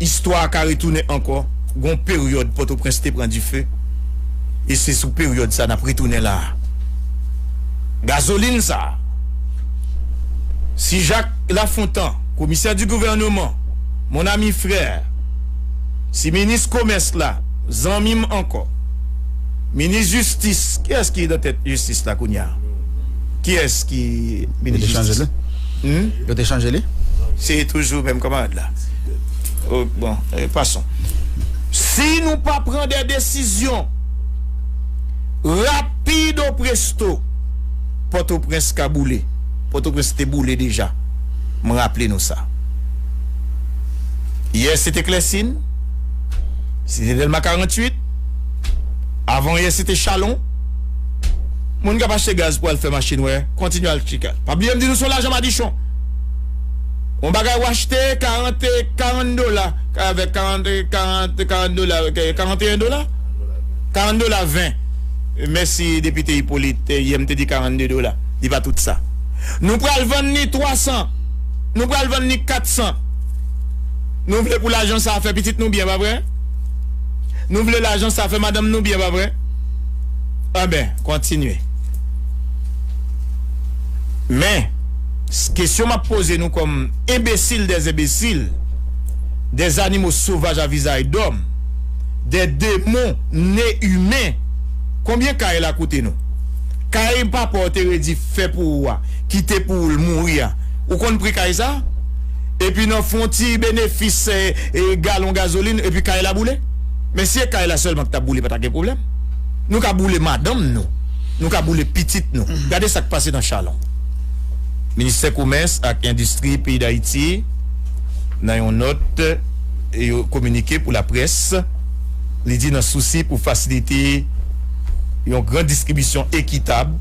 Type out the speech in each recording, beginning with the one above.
Istwa a ka retounen ankò. Gen yon peryòd Pòtoprens te pran dife e se sou peryòd sa n ap retounen la a. Gazolin sa a, si Jak Lafontan, komisè di gouvèneman, mon ami frère, si minis komès la, zanmi m ankò, minis jistis, kiyès ki nan tèt jistis la kounye a? Kiyès ki minis jistis la? Yo te chanje li? Se toujou menm kanmarad la. Bon, pason. Si nou pa pran de desizyon rapido presto, Pòtoprens ka boule. Pòtoprens te boule deja. M raple nou sa. Yè se te Klèsin, Site Dèlma 48, avan yè se te Chalon. Moun kap achte gaz pou al fè machin wè kontinye al chika pa bliye m di nou son lajan madichon yon bagay w achte 40 karan dola avèk 40 40 karan dola 41 dola karan dola 20 mèsi depite ipolit yè m te di 42 dola li pa tout sa nou pral vann li 300 nou pral vann li 400 nou vle pou lajan sa fè pitit nou byen pa vre nou vle lajan sa fè madanm nou byen pa vre. Anben, kontinye. Men, kesyon m ap poze nou kòm enbesil dè enbesil, dè zanimo sovaj a vizay dòm, dè demon ne imen, konbyen kay la koute nou? Kay papa w te redi fè pou ou a, ki te pou ou l mouri a, ou konn pri kay sa? Epi nan fon ti benefis galon gazolin, epi kay la boule? Men si e kay la selman ki tap boule pa ta gen pwoblem. Nou ka boule madanm nou, nou ka boule pitit nou. Gade sak pase nan Chalon. Ministè komès ak endistri peyi Dayiti nan yon nòt yo kominike pou laprès li di nan sousi pou fasilite yon gran distribisyon ekitab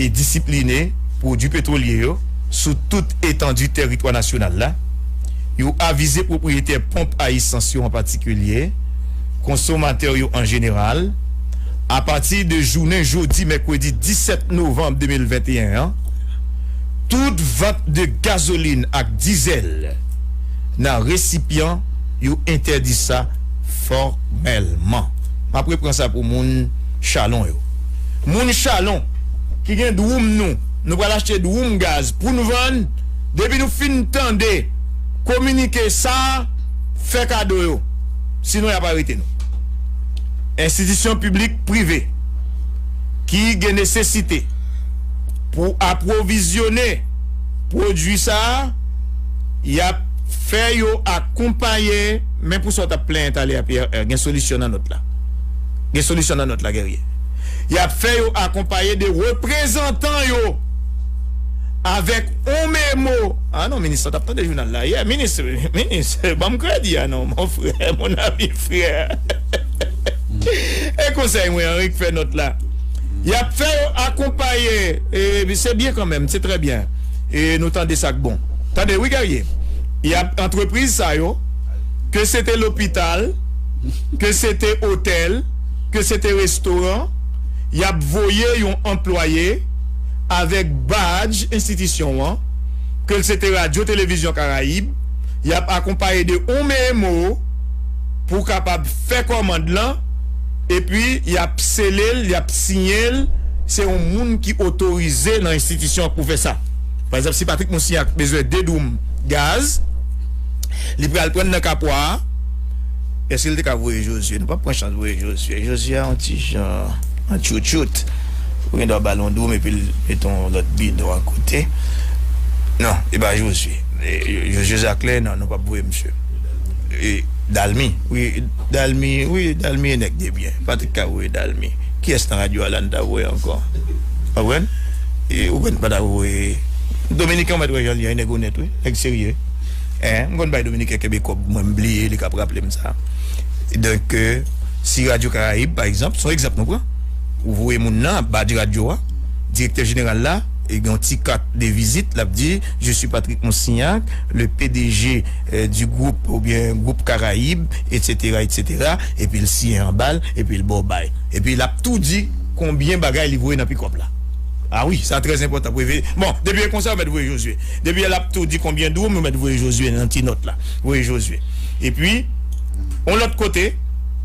e disipline pwodwi petwolye yo sou tout etandi teritwa nasyonal la, Yo avize pwopriyetè ponp a esans yo an patikilye, konsomatè yo an jeneral, apati de jounen jodi mèkredi 17 novanm 2021 an, tout vant de gazolin ak dizèl nan resipyan yo entèdi sa fòmèlman. M ap repran sa pou moun Chalon yo. Moun Chalon ki gen dwoum nou, nou pral achte dwoum gaz pou n vann. Depi nou fin tande kominike sa a, fè kado yo, sinon y ap arete nou. Enstitisyon piblik, prive ki gen nesesite pou apwovizyone pwodui sa a, y ap fè yo akonpaye men pou sa w t ap plenyen talè a Pierre, gen solisyon nan nòt la. Gen solisyon nan nòt la Guerrier. Y ap fè yo akonpaye de reprezantan yo. avèk on memo ah non minis la tap tande jounal la yè minis minis banm kredi ah non mon frè mon ami frère e konsèy mwen anri k fè nòt la yap fè yo akonpaye e se byen kanmèm se trè byen e nou tande sak bon tande wi Guerrier yap antrepriz sa yo ke se te lopital ke se te otèl ke se te restoran yap voye yon anplwaye avèk badj enstitisyon an, ke l se te Radyo Televizyon Karayib, y ap akonpaye de on meemo pou kapab fè kòmand lan, epi y ap sele l, y ap siyen l, se on moun ki otorize nan enstitisyon an k pou fè sa. Pa egzanp, si Patrik Mousniak bezwen 2 doum gaz, li pral pran nan Kapwa a, èske l te ka voye Jozye? Nou p ap pran chans voye Jozye, Jozye a on ti jan an tchoutchout. Ou gen dwa ba l yon dwoum epi l met yon lòt bidon akote. Non, li pa Jozye. Jozye Zaklè, non, nou p ap voye misye. E Dalmi? Wi, Dalmi, wi, Dalmi e nèg debyen. Patrik ka voye Dalmi. Kiyès nan radyo Alan ta voye ankò? Ou konprann? E ou konn pa ta voye Dominiken ou mèt wè jan l ye, yon nèg onèt wi, nèg serye. Eeh, m konn bay Dominiken kenbe kòb mwen, m bliye li k ap raple m sa. Donk, si radyo Karayib, pa egzanp, s on egzanp nou pran. Ou voye moun nan ap badj radyo a, direktè jeneral la gen yon ti kat de vizit lap di je suis Patrick Monsignac le pdg du groupe oubyen group karayib etsetera etsetera epil siyen anba l epil baw bay epi lap tou di konbyen bagay li voye nan pikòp la a wi sa trè enpòtan pou efe bon depi e konsa ou mèt voye Josué depi lap tou di konbyen dwoum ou mèt voye Josué nan ti nòt la voye Josué epi yon lòt kote.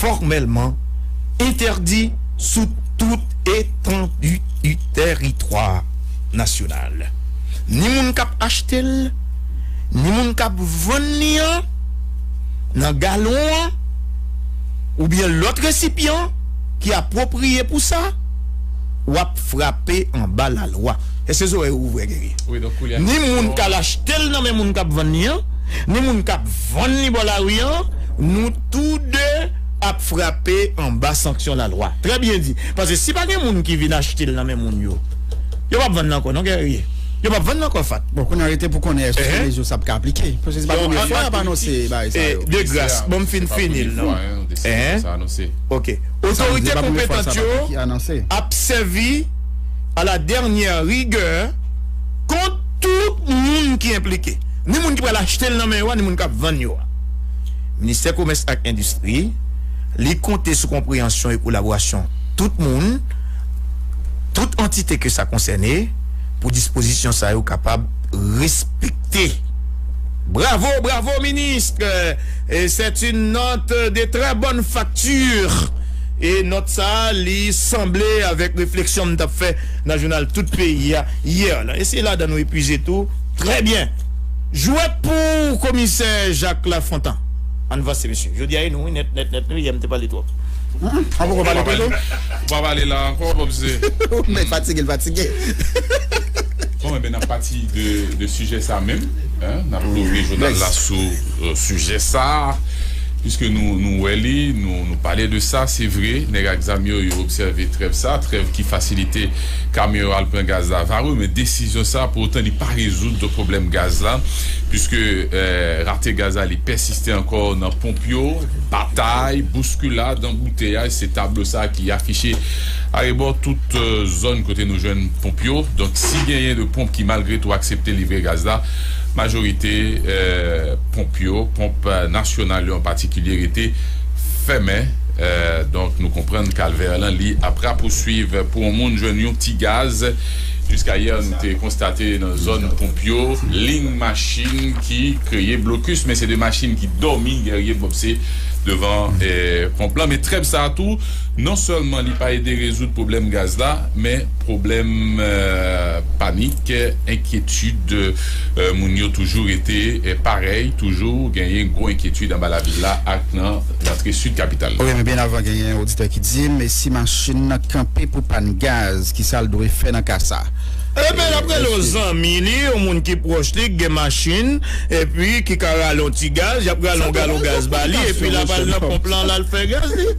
fòmèlman entèdi sou tout etandi tèritwa nasyonal. Ni moun k ap achte l, ni moun k ap vann li an nan galon an oubyen lòt resipyan ki apwopriye pou sa, w ap frape anba lalwa. Èske zòrèy ou ouvè, Guerrier? Ni moun k al achte l nan men moun k ap vann li an, ni moun k ap. Vann li bò lari an, nou tou de ap frape anba sanksyon lalwa. Trè byen di. Pase si pa gen moun ki vin achte l nan men moun yo, yo pap vann l ankò non Guerrier. Yo pap vann l ankò Fat. Bon kounya rete pou konnen eske sou rezo sa ap ka aplike. Pase se pa premye fwa y ap anonse bagay sa yo. De gras, ban m fin fini l non. Ok. Otorite konpetant yo ap sèvi a la dènyè rigè kont tout moun ki enplike. ni moun ki pral achte l nan men yo a ni moun k ap vann yo a. Ministè Komès ak Endistri, li konte sou konpreyansyon e kolaborasyon tout moun, tout antite ke sa konsène pou dispozisyon sa yo kapab respekte. Bravo, bravo ministre! C'est une note de très bonne facture e nòt sa a li sanble avèk refleksyon m t ap fè nan jounal Tout Peyi a yè lan e se ladan nou epuize tou. Trè byen! Jwèt pou komisè Jacques Lafontant. Ann vanse mesye. Jodi a e nou wi nèt nèt nèt nou yè m te pale twòp. Ou poko pale tou non. Ou pa pale la ankò popze. Nèg fatige l fatige. Bon enben nan pati de sijè sa menm n ap louvri jounal la sou sijè sa piske nou wè li nou pale de sa se vre nèg ak zam yo yo obsève trèv sa trèv ki fasilite Kamyon yo al pran gaz la va wi men desizyon sa pou otan li pa rezoud do pwoblèm gaz la puiske rate gaz la li pèsiste ankò nan ponp yo, batay, bouskilad, anbouteyaj se tablo sa ki afiche arebò tout zòn kote nou jwenn ponp yo donk si genyen de ponp ki malgre tou aksepte livre gaz la majorite ponp yo, ponp nasyonal yo an patikilye rete. fèmen donk nou konprann kalvè lan li ap rapousuiv pou on moun jwenn yon ti gaz jiska yè nou te konstate nan zòn ponp yo ling machin ki kreye blokus men se de machin ki dòmi Guerrier Bobse devan ponp lan men trèv sa tou non sèlman li pa ede rezoud pwoblèm gaz la men. Pwoblèm panik, enkyetid moun yo toujou rete parèy, toujou genyen gwo enkyetid anba lavil la ak nan rantre sid kapital la. Wi men byen avan genyen oditè ki dim e si machin nan kanpe pou pàn gaz ki sal dwe fè nan ka sa? Ebyen lap rele yon zanmi li, yon moun ki pwòch li ki gen machin epi ki ka rale yon ti gaz, yap rale yon galon gaz ba li epi lap al nan ponp lan lal fè gaz li.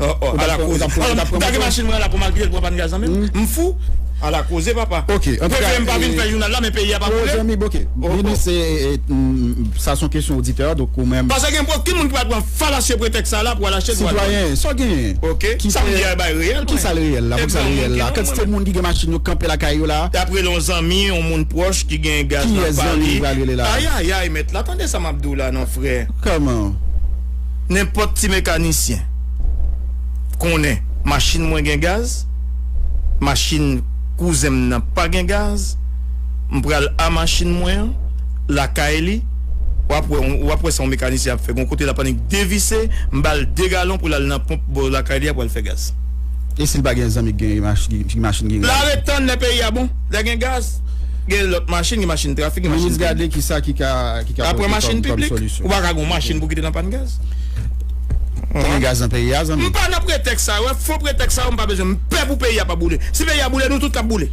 Oh oh ala koze Gade machin mwen an la pou malkite l pran pàn gaz lan menm M fou Ala koze papa Bondye m pa vin fè jounal la men peyi a pa boule Pase gen pwoki moun ki pral pran falasye pretèks sa a la pou al achte dwàn Ok Sa m di a e bay reyèl mwen E pou yon moun ki non mwen E ap rele yon zanmi yon moun pwòch ki gen gaz nan pa li Ayayay mèt la tande sa m ap di w la non frè. Nenpòt ti mekanisyen k konnen machin mwen gen gaz, machin kouzen m nan pa gen gaz, m pral a machin mwen an, lakay li, w ap wè, w ap wè sa yon mekanisyen ap fè. Gon kote l ap annik devise, m ba l 2 galon pou l al nan ponp bò lakay li a pou al fè gaz. E si l pa gen zanmi ki gen machin ki gen gaz? L aret tann lè peyi a bon, lè gen gaz. Gen lòt machin, gen machin trafik, gen machin piblik. Aprè machin piblik, ou pa ka gen yon machin pou kite nan pàn gaz. M pa nan pretèks sa yo, fo pretèks sa yo m pa bezwen. M pè pou peyi a pa boule. Si peyi a boule, nou tout k ap boule.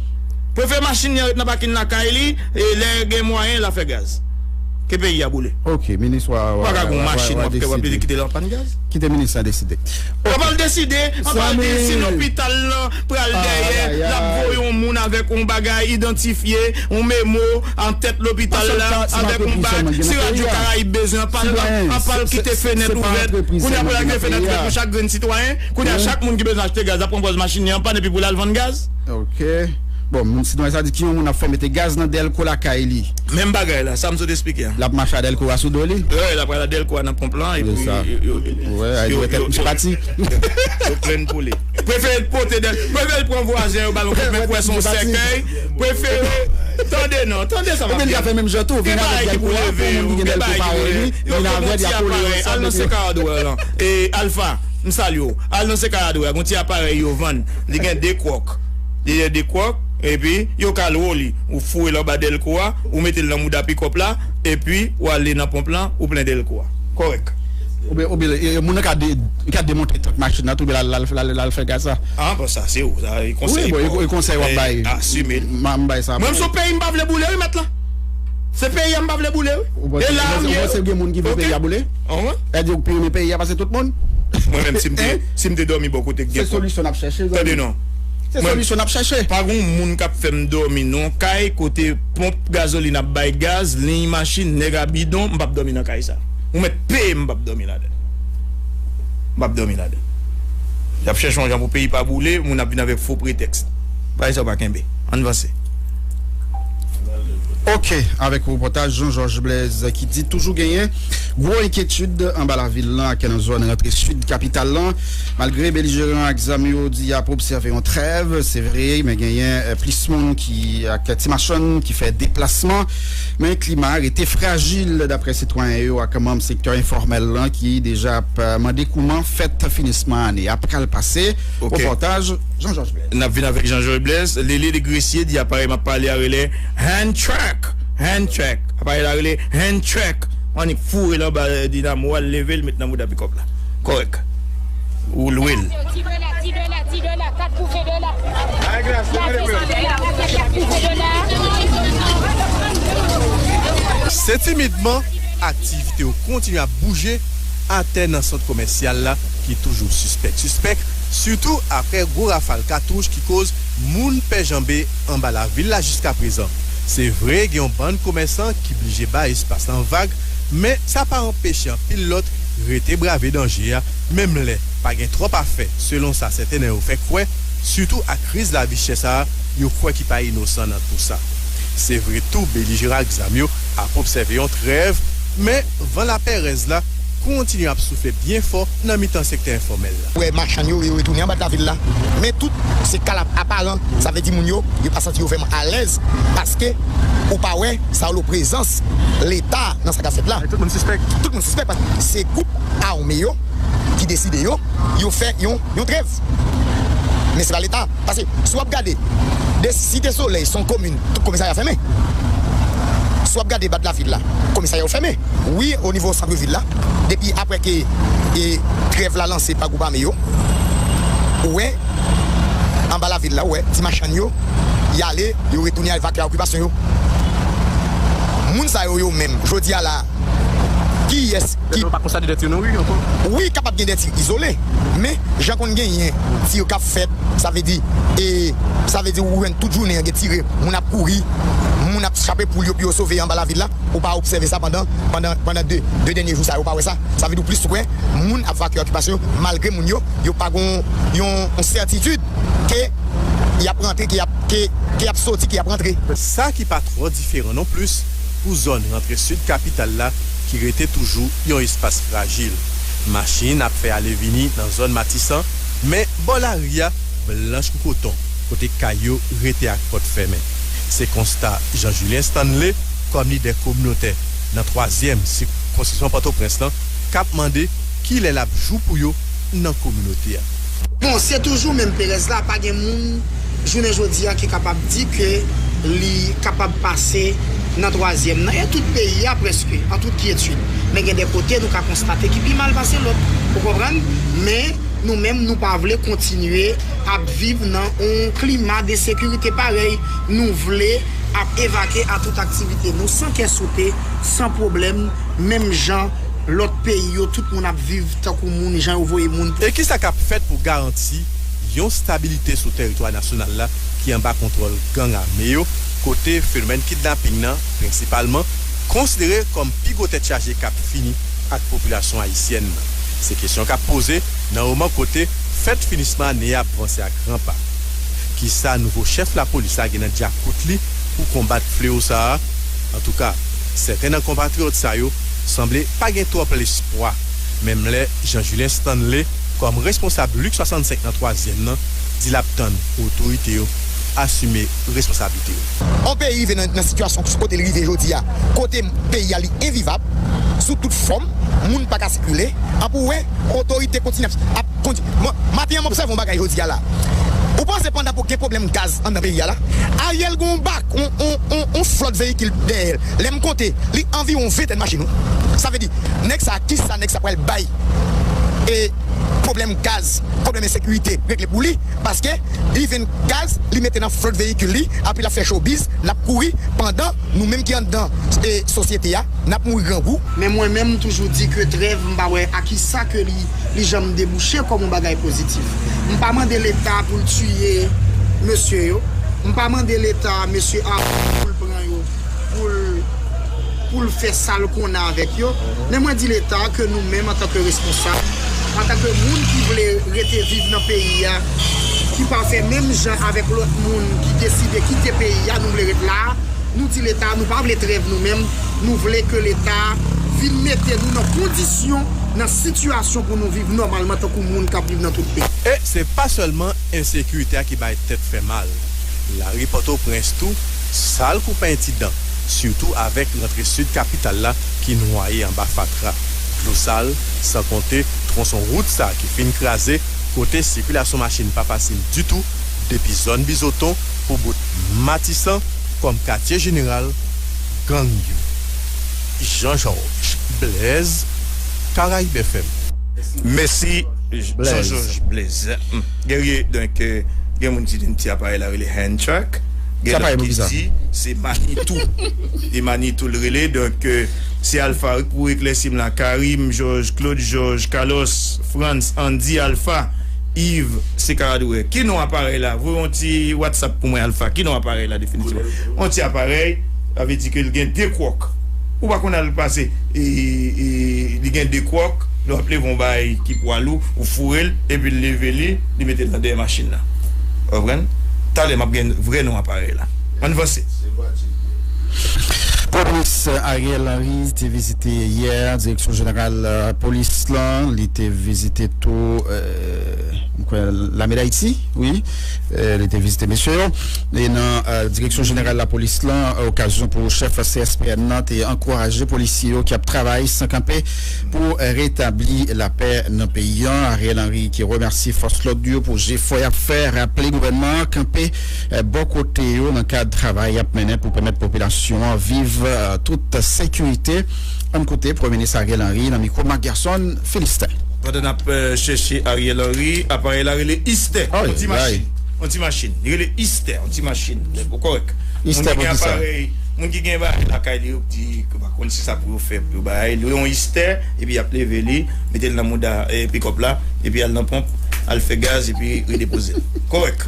Prefere machin li an ret nan pakin lakay li, lè gen mwayen l a fè gaz. Ke peyi a boule. Ou pa ka gen yon machin w ap fè w ap kite l an pàn gaz. Ou pa al deside si lopital lan. pral dèyè lap voye yon moun avèk yon bagay idantifye, yon memo, an tèt lopital la avèk yon bak, si radyo karayib bezwen anpal anpal kite fenèt ouvèt, kounye a pou lal kite fenèt ouvèt pou chak grenn sitwayen, kounye a chak moun ki bezwen achte gaz ap pran pòz machin li anpàn epi pou lal vann gaz. Ok bon moun sitwayen sa di ki yon moun ap fè mete gaz nan dèlko lakay li. Menm bagay la, sam sot esplike a. Lap mache a dèlko a sou do li. Wi lap pral a dèlko a nan ponp lan epi yo yo yo yo yo plenn pou li. Prefere t pote de prefere t pran vwazen yo bal on kout men kwè son sèkèy prefere tande nan tande sa map di nou gen bagay ki pou leve yo gen bagay ki pou leve yo gen yon ti aparèy al nan sèkèy hardware lan e alfa m salye w al nan sèkèy hardware gen yon ti aparèy yo vann li gen 2 kwòk li gen 2 kwòk epi yo ka lwe w li ou foure l anba dèlko a ou mete l nan mouda pikòp la epi wale nan ponp lan ou plen dèlko a kòrèk. Ou byen e moun nan ka. Li ka demontre tank machin nan tou epi l al fè gaz sa. Ah bon sa se ou sa e konsèy paw. Wi bon e konsèy wap bay. Asime l. M bay sa pou ou. Mwen m son peyi m pa vle boule wi mèt la. Se peyi a m pa vle boule wi. Ou panse gen moun ki vle peyi a boule? Ou di ou pi renmen peyi a pase tout moun? Mwen menm si m te si m te dòmi bò kote k gen. Se solisyon nap chèche zanmi. Tande non. Se solisyon nap chèche. Pa gon moun kap fè m dòmi non kay kote ponp gazolin ap bay gaz liy machin nèg a bidon m pap dòmi nan kay sa. Ou mèt. Pee m pap domi ladan l. M pap domi ladan l. Y ap chèche yon jan pou peyi pa boule, moun ap vin avèk fo pretèks. Bagay sa yo pa kenbe. Ann vanse. Ok, avèk repòtaj Jean Georges Blaise ki di toujou genyen gwo enkyetid anba lavil lan ak nan zòn rantre sid kapital lan. Malgre belijeran ak zam yo di y ap obsève yon trèv, se vre men genyen plis moun ki ak ti machann ki fè deplasman. Men klima a rete frajil daprè sitwayen yo ak manm sektè enfòmèl lan ki deja ap mande kouman fèt finisman ane a pral pase. Repòtaj Jean Georges Blaise. N ap vin avèk Jean Georges Blaise. Lele de Gresye di aparèy m ap pale a rele Hand Track, Hand Track. Aparèy la rele Hand Track. Ou annik foure l anba dinamo a, l leve l met nan mouda pikòp la. Kòrèk. Ou lwe l. Se timidman, aktivite yo kontinye ap bouje atè nan sant komèsyal la ki toujou sispèk sispèk, sitou aprè gwo rafal katouch ki koz moun pè janbe anba lavil la jiskaprezan. Se vre gen yon bann komèsan ki blije bay espas lan vag, men sa pa anpeche anpil lòt rete brave danje a menm lè. Pa gen twòp afè, selon sa sèten nan yo fè kwè, sitou ak kriz lavi chè sa a yo kwè ki pa inosan nan tou sa. Se vre tou belijeran ak zam yo ap obsève yon trèv, men van lapèrèz la kontinye ap soufle byen fò nan mitan sektè enfòmèl la. Wè machann yo, yo retounen anba lavil la, men tout se kalap aparan, sa vle di moun yo, yo pa santi yo vrèman alèz paske ou pa wè Saulo prezans Leta nan sa k ap fèt la. Tout moun sispèk. Tout moun sispèk paske se gwoup ame yo. ki deside yo, yo fè yon yon trèv. Men se pa leta, pase si wap gade de site solèy son komin tout komisarya fèmen. Si wap gade bat la vil la komisarya yo fèmen. Wi o nivo santre vil la depi aprè ke e trèv la lanse pa gwoup ame yo ou wè anba la vil la ou wè ti machann yo yale yo retounen al vakè a okipasyon yo. Moun sa yo yo menm jodi a la. Kiyès ki. Wi kapab gen dè tir izole men jan konn genyen tir kap fèt sa vle di e sa vle di ou jwenn tout jounen an gen tire moun ap kouri moun ap chape poul yo pou yo sove anba lavil la ou pa obsève sa pandan pandan pandan 2 2 dènye jou sa yo ou pa wè sa sa vle di ou plis wè moun ap vakye okipasyon yo malgre moun yo yo pa gon yon sètitid ke yap rantre ke yap ke ke yap soti ke yap rantre. Sa ki pa twò diferan non plis. pou zòn rantre sid kapital la ki rete toujou yon espas frajil. Machin ap fè ale vini nan zòn Matisan, men bò lari a blanch kou koton kote kay yo rete ak pòt fèmen. Se konsta Jean Julien Stanley, kòm lidè kominotè nan twazyèm sikonskripsyon Pòtoprens lan, k ap mande kilè l ap jou pou yo nan kominote a. Bon, se toujou menm perèz la, pa gen moun. jounen jodi a ki kapab di ke li kapab pase nan twazyèm nan e tout peyi a prèske an tout kyetid men gen de kote nou ka konstate ki pi mal pase lòt ou konprann men nou menm nou pa vle kontinye ap viv nan yon klima de sekirite parèy nou vle ap evake a tout aktivite nou san kè sote san pwoblèm menm jan lòt peyi yo tout moun ap viv tankou moun jan yo voye moun pou. E kisa kap fèt pou garanti yon stabilite sou teritwa nasyonal la ki anba kontwòl gang ame yo, kote fenomèn kidnaping nan, prensipalman, konsidere kòm pi gwo tèt chaje k ap fini ak popilasyon ayisyèn nan. Se kesyon k ap poze nan moman kote fèt finisman ane a ap vanse a gran pa. Ki sa nouvo chèf lapolis la gen nan dyakout li pou konbat fleo sa a? Antouka, sèten nan konpatriyòt sa yo sanble pa gen twòp lespwa, menm lè Jean Julien Stanley, Kòm responsab Lik 65 nan twazyèm nan di lap tann otorite yo asime responsablite yo. On peyi rive nan sitiyasyon sou kote li rive jodi a, kote peyi a li envivab sou tout fòm, moun pa ka sikile, an pou wè otorite kontinye ap kondi. Maten an m obsève on bagay jodi a la, ou panse pandan pou gen pwoblèm gaz anndan peyi a la, Ariel gen on bak, on flòt veyikil dèyè l, lè m konte li anviwon ventèn machin wi, sa vle di nèg sa ki sa nèg sa pral bay e pwoblèm gaz, pwoblèm ensekirite regle pou li paske li venn gaz li mete nan flòt veyikil li apre lap fè chobiz lap kouri pandan nou menm ki anndan sosyete a nap mouri grangou. Men mwen menm m toujou di ke trèv m pa wè a kisa ke li li janm debouche kòm yon bagay pozitif. M pa mande leta pou l tiye mesye yo, m pa mande leta mesye Arly pou l pran yo poul poul fè sal konnen avèk yo men mwen di leta ke nou menm antanke responsab antanke moun ki vle rete viv nan peyi a ki pa fè menm jan avèk lòt moun ki deside kite peyi a nou vle ret la nou di leta nou pa vle trèv nou menm nou vle ke leta vin mete nou nan kondisyon nan sitiyasyon pou nou viv nòmalman tankou moun kap viv nan tout peyi. E se pa sèlman ensekirite a ki bay tèt fè mal lari pòtoprens tou. Sal kou penti dan, sitou avèk rantre sid kapital la ki nwaye anba fatra, dlo sal, san konte twonson wout sa ki fin kraze, kote sikilasyon machin pa fasil ditou, depi zòn Bizoton pou bout Matisan kòm katye jeneral gang yo. Jean Georges Blaise, Caraïbes FM. Mèsi Jean Georges Blaise. Guerrier, donk gen moun ki di yon ti aparèy la rele hand track. Gen lòt ki di se Manitou E Manitou l rele Donk se Alpha wi k pou eklèsi m la Karim Jòj Klod Jòj Kalòs Frantz Andy Alpha Iv se Karadouè Ki non aparèy la Voye yon ti Whatsapp pou mwen Alpha Ki non aparèy la definitivman Yon ti aparèy Sa vle di ke l gen 2 kwòk Ou pa konn al pase Li gen 2 kwòk Nou ap leve yon bagay ki pwa lou Ou foure l epi l leve li. li mete nan dèyè machin nan. Ou konprann? Talè map gen vrè non aparèy la. Ann vanse. Premye minis Ariel Henry te vizite yè direksyon jeneral polis lan, li te vizite tou m kwè lame dayiti wi, li te vizite mesye yo nan direksyon jeneral lapolis lan okazyon pou chèf CSPN nan te ankouraje polisye yo ki ap travay san kanpe. Pou retabli lapè nan peyi an, Ariel Henry te remèsye fòs lòd yo pou jefò y ap fè, raple gouvènman an kanpe bò kote yo nan kad travay y ap mennen pou pèmèt popilasyon an viv an tout sekirite. Ann koute Premye Minis Ariel Henry nan mikwo Marc Gerson Philistin. Pandan n ap chèche Ariel Henry, aparèy la rele Istè, yon ti machin. Yon ti machin. Li rele Istè, yon ti machin. Ou kòrèk. Moun ki gen aparèy, moun ki gen aparèy lakay li yo, yo di yo pa konn si sa pou yo fè. Fèb yo bay li yon istè epi yap leve li mete l nan mouda pikòp la epi al nan ponp al fè gaz epi redepoze l kòrèk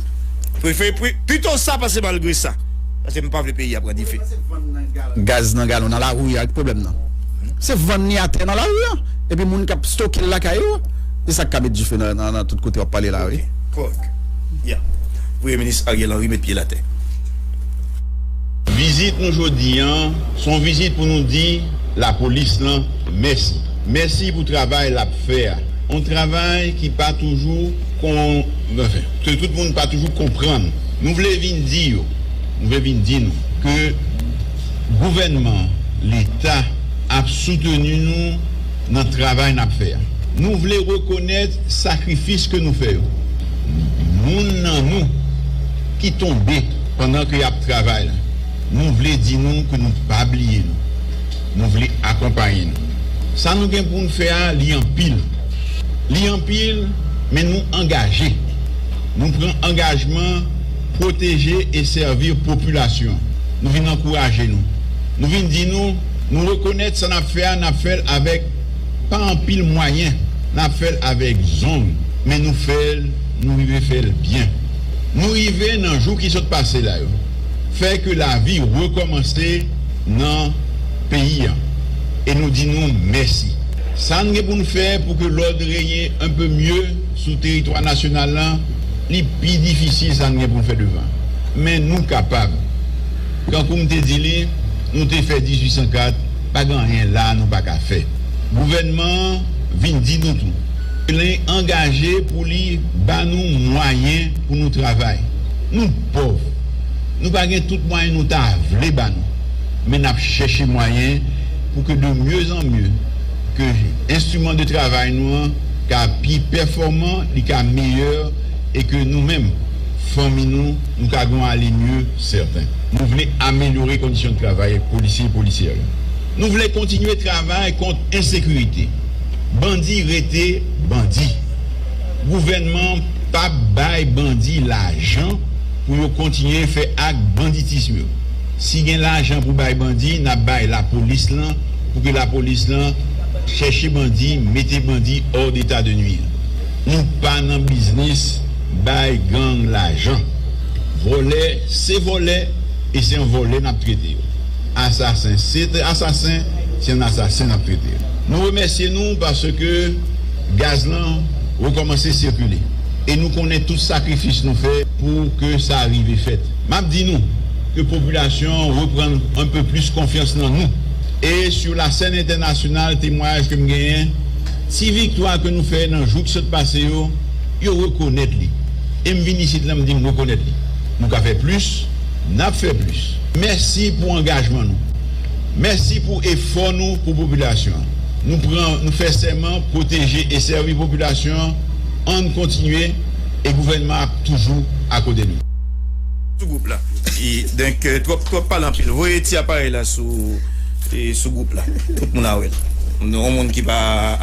prefere pito sa pase malgre sa paske m pa vle peyi a pran dife. Gaz nan galon nan lari a ki pwoblèm nan se vann li atè nan lari a epi moun kap stoke l lakay yo se sak ka met dife nan tout kote wap pale la wi. Ok kòrèk ya premye minis Ariel Henry met pye l atè. Vizit nou jodi an, se yon vizit pou nou di lapolis lan mèsi. Mèsi pou travay l ap fè a. Yon travay ki pa toujou kon, anfen, ke tout moun pa toujou konprann. Nou vle vin di yo, nou vle vin di nou ke gouvènman an, Leta, ap souteni nou nan travay n ap fè a. Nou vle rekonèt sakrifis ke nou fè yo. Moun nan nou ki tonbe. Pandan ke yap travay la, nou vle di nou ke nou pa bliye nou. Nou vle akonpaye nou. Sa nou gen pou nou fè a li anpil. Li anpil, men nou angaje. Nou pran angajman pwoteje e sèvi popilasyon an. Nou vin ankouraje nou. Nou vin di nou, nou rekonèt sa nap fè a, nap fèl avèk pa anpil mwayen, nap fèl avèk zong, men nou fèl, nou rive fèl byen. Nou rive nan jou ki sot pase la yo fè ke lavi rekòmanse nan peyi an e nou di nou mèsi. Sa n gen pou n fè pou ke lòd renye un peu mieux sou teritwa nasyonal lan, li pi difisil sa n gen pou n fè devan. Men nou kapab. Kankou m te di li, nou te fè 1804, pa gen anyen la a nou pa ka fè. Gouvènman an vin di nou tou. Plen angaje pou li ba nou mwayen pou nou travay. Nou pòv, nou pa gen tout mwayen nou ta vle ba nou, men n ap chèche mwayen pou ke de mye zan mye, ke enstriman de travay nou an ka pi pèfòman, li ka meyè e ke nou menm, fanmi nou, nou ka gen yon ale mye sèten. Nou vle amelyore kondisyon de travay polisye e polisyè yo. Nou vle kontinye travay kont ensekirite. Bandi rete bandi. Gouvènman an pap bay bandi lajan pou yo kontinye fè ak banditism yo. Si gen lajan pou bay bandi nap bay lapolis lan pou ke lapolis lan chèche bandi mete bandi hors d'état de nuire. Nou pa nan biznis bay gang lajan. Vòlè se vòlè e se an vòlè nap trete yo. Asasen se te asasen se yon asasen nap trete. Nou remèsye nou paske gaz lan rekòmanse sikile e nou konnen tout sakrifis nou fè pou ke sa rive fèt. Map di nou ke popilasyon an reprann anpe plis konfyans nan nou e sou la sèn entènasyonal temwayaj kem genyen ti viktwa ke nou fè nan jou ki sot pase yo, yo rekonèt li. Em vin isit la mdi m rekonèt li. Nou ka fè plis. N ap fè plis. Mèsi pou angajman nou. Mèsi pou efò nou pou popilasyon an. Nou pran, nou fè sèman pwoteje e sèvi popilasyon an. Ann kontinye e gouvènman an ap toujou akote nou. Sou gwoup la e donk twòp twòp pale anpil voye ti aparèy la sou e sou gwoup la tout moun a wèl yon moun ki pa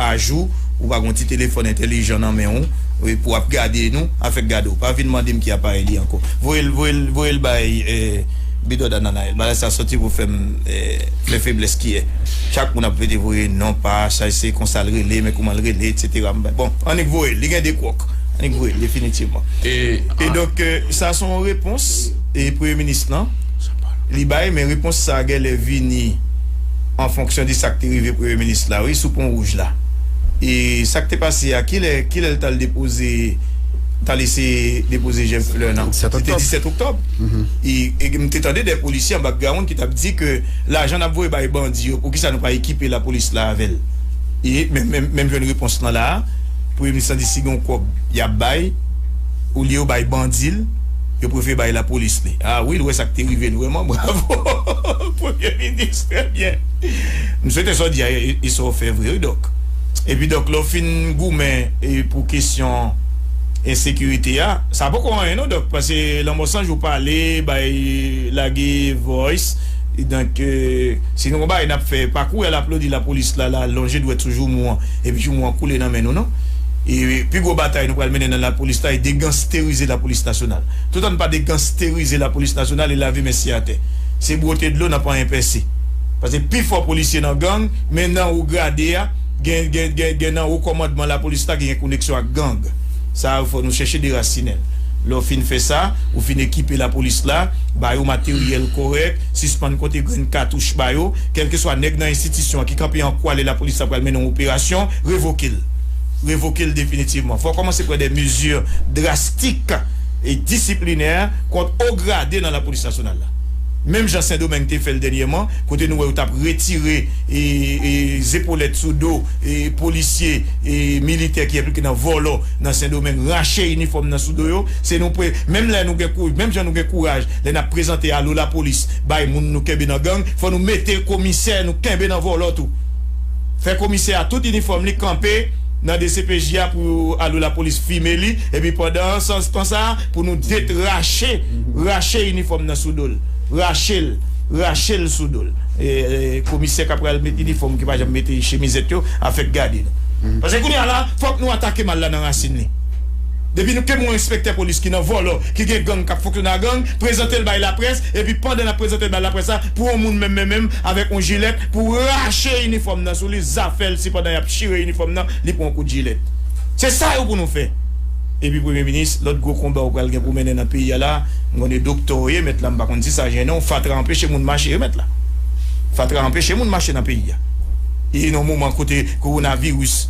ajou ou pa gon ti telefòn entèlijan nan menw. Wi pou ap gade nou avek gade w pa vin mande m ki aparey li anko voye l voye l voye l bay bidò dananayèl bagay sa soti pou fè m fè feblès kiyè chak moun ap vete voye non pa chay se konsa l rele men kouman l rele etc m bay bon annik voye l li gen 2 kwòk annik voye l definitivman e donk sa se yon repons premye minis lan li bay men repons sa genlè vini. an fonksyon de sak te rive premye minis la wi sou pon wouj la e sak te pase a kilè kilè l tal depoze tal ese depoze jèf flè nan se te 17 oktòb e m te tande de polisye an bakgrawonn ki tap di ke lajan nap voye bay bandi yo poukisa nou pa ekipe lapolis la avèl e menm jwenn repons lan la premye minis lan di si gon kòb yap bay olye yo bay bandi l yo prefere bay lapolis li a wi l wè sak te rive nou vrèman bravo. Premye minis trè byen. M swete sa w di a e sa w fè vre wi Dòk. Epi Dòk lè w fin goumen pou kesyon ensekirite a, sa poko anyen non Dòk pase lanmò san jou pale bay lage voice donk si nou gon bagay n ap fè pa kouri al aplodi lapolis la la lonje dwèt sou joumou an epi joumou an koule nan men nou non. E pi gwo batay nou pral mennen nan lapolis la e degansterize lapolis nasyonal. Toutan n pa degansterize lapolis nasyonal e lave mèsi atè. se bwote dlo nan panyen pèse. Pase pi fò polisye nan gang, men nan wo grade a, gen nan wo kòmandman lapolis la ki gen koneksyon ak gang. Sa yo fò nou chèche derasinen l. Lè w fin fè sa, ou fin ekipe lapolis la, ba yo materyèl kòrèk, sispann konte grenn katouch ba yo. Kèlkeswa nèg nan enstitisyon an ki kanpe an kwa lè lapolis la pral mennen yon operasyon, revoke l. Revoke l definitivman. Fò w kòmanse pran de mezi drastik e disiplinè kont wo grade nan lapolis. Polis Nasyonal la. Menm jan Sendomeng te fè l dènyèman, kote nou wè yo t ap retire zepolèt sou do polisye, militè ki enplike nan vòlò nan Sendomeng, rache inifòm nan sou do yo. Se nou pre, menm lè nou gen kou, menm jan nou gen kouraj lè n ap prezante Alo Lapolis bay moun nou kenbe nan gang, fò nou mete komisè nou kenbe nan vòlò tou. Fè komisè a tout inifòm li kanpe nan dcpj a pou Alo Lapolis fime li epi pandan san tan sa a, Pou nou det rache, rache inifòm nan sou dol. Rachel, rachel sou dol. Komisè kap pral met inifòm ki pa janm mete chemizèt yo ap fèk gade nou. Pase kounye a la fòk nou atake mal la nan rasin li. Depi nou kem yon enspektè polis ki nan vòlò, ki gen gang kap fonksyone a gang, prezantel bay laprès, epi pandan nap prezantel bay laprès la, pou yon moun menm men menm avèk yon jilèt pou rache inifòm nan sou li, zafèl si pandan yap chire inifòm nan li pran yon kout jilèt. Se sa yo pou nou fè. Epi premye minis, lòt gwo konba ou pral gen pou mennen nan peyi a la, m konn e doktè ou ye mèt la m pa konn si sa jennen w, fatra anpeche moun mache wi mèt la. Fatra anpeche moun mache nan peyi a. E nan yon moman kote kowonaviris,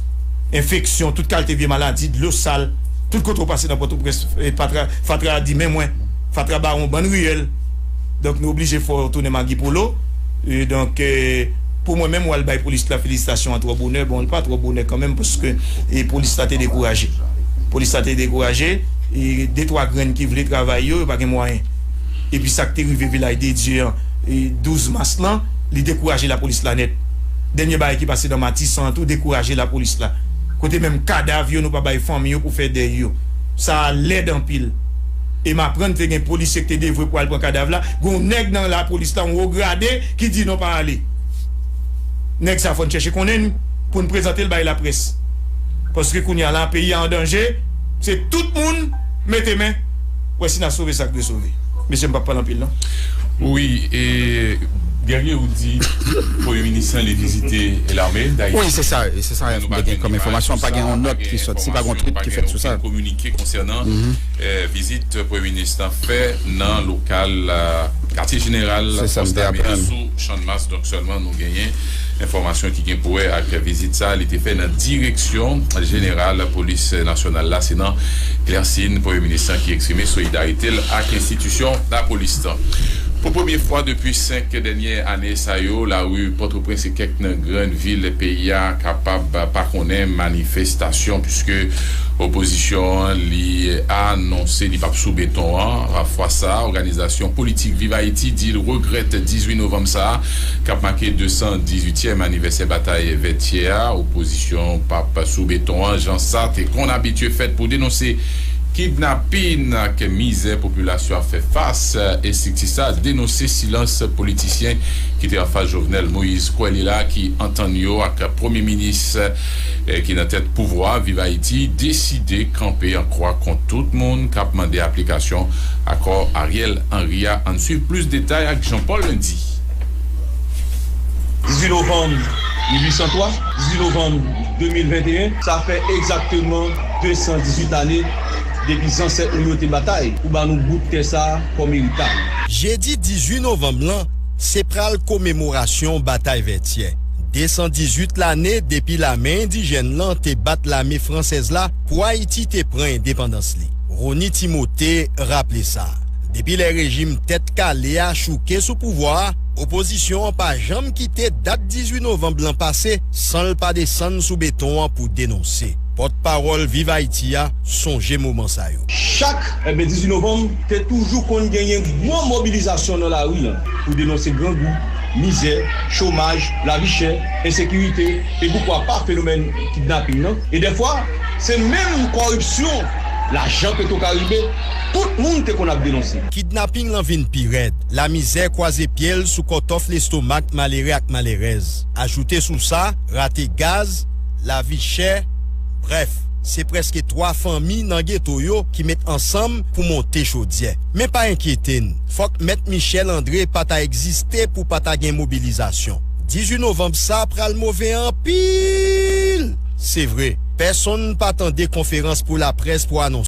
enfeksyon, tout kalte vye maladi, dlo sal, tout kote ou pase nan Pòtoprens fatra di men mwen, fatra ba ou yon bann riyèl. Donk nou oblije fè w tounen magi pou lo Donk pou mwen menm w al bay polis la felisitasyon an twò bonè Bon li pa twò bonè kanmenm paske polis la te dekouraje Polis la te dekouraje De twa grenn ki vle travay yo yo pa gen mwayen Epi sa k te rive Vilaj de Dye an 12 mas lan li dekouraje lapolis la nèt Dènye bagay ki pase nan Matisan an tou dekouraje lapolis la Kote menm kadav yo nou pa bay fanmi yo pou fè dèy yo Sa a lèd anpil. e m aprann te gen polisye k te devwe pou al pran kadav la, gen yon nèg nan lapolis la, yon wo grade, ki di non pa ale. Nèg sa fò n chèche konnen li pou n prezante l bay laprès. Paske kounye a la peyi a an danje, se tout moun mete men wè si n a sove sa k dwe sove. Mesye m p ap pale anpil non. Wi, e Guerrier ou di premye minis lan li vizite lame Dayiti men nou pa jwenn imaj sou sa, pa gen imaj, pa gen okenn kominike konsènan. Vizit premye minis lan fè nan lokal katye jeneral Konstabile sou Channmas donk sèlman nou genyen enfòmasyon ki gen pou wè ak vizit sa li te fè nan direksyon jeneral polis nasyonal la se nan Clercine premye minis lan ki eksprime solidarite l ak enstitisyon lapolis lan. Pou premye fwa depi 5 dènye ane sa yo lari Pòtoprens e kèk nan grenn Vil peyi a kapab pa konnen manifestasyon puiske opozisyon an li a nonse li pap sou beton an. Fwa sa a, òganizasyon politik Viv Ayiti di l regrèt 18 novanm sa a k ap make 218 tyèm anivèsè batay Vètyè a, opozisyon an pap sou beton an jan sa te konn abitye fèt pou denonse kidnapin ak mizè popilasyon ap fè fas. Estrikti sa a denonse silans politisyen ki te anfas Jovenel Moïse kwè li la ki antann yo ak premye minis ki nan tèt pouvwa Viv Ayiti deside kanpe an kwa kont tout moun k ap mande aplikasyon akò Ariel Henry a Ann swiv plis detay ak Jean Paul Lundi. 18 novanm 1803, 18 novanm 2021, sa fè egzakteman 218 ane depi zansèt nou yo te batay pou ba nou bout tè sa kòm eritay. Jedi 18 novanm lan, Se pral komemorasyon batay Vètyè. 218 lane depi lame endijèn lan te bat lame fransèz la pou Ayiti te pran endepandans li. Rony Timothé raple sa, depi lè rejim Tèt Kale a chouke sou pouvwa a, opozisyon an pa janm kite dat 18 novanb lan pase san l pa desann sou beton an pou denonse. Pòtpawòl Viv Ayiti a sonje moman sa yo. Chak 18 novanm, Te toujou konn genyen gwo mobilizasyon nan lari an pou denonse grangou, mizè, chomaj, lavi chè, ensekirite e poukwa pa fenomèn kidnaping nan e dèfwa se menm kòripsyon lajan petwokaribe tout moun te konn ap denonse. Kidnaping lan vin pi rèd, lamizè kwaze pye l sou kòtòf lestomak malere ak malerèz. Ajoute sou sa, rate gaz, lavi chè, brèf, se prèske twa fanmi nan geto yo ki met ansanm pou monte chodyè. Men pa enkyete n, fòk Mèt Michel André pa ta egziste pou pa ta gen mobilizasyon. 18 novanb sa pral move anpil! Se vre, pèsonn pa tande konferans pou laprès pou anonse.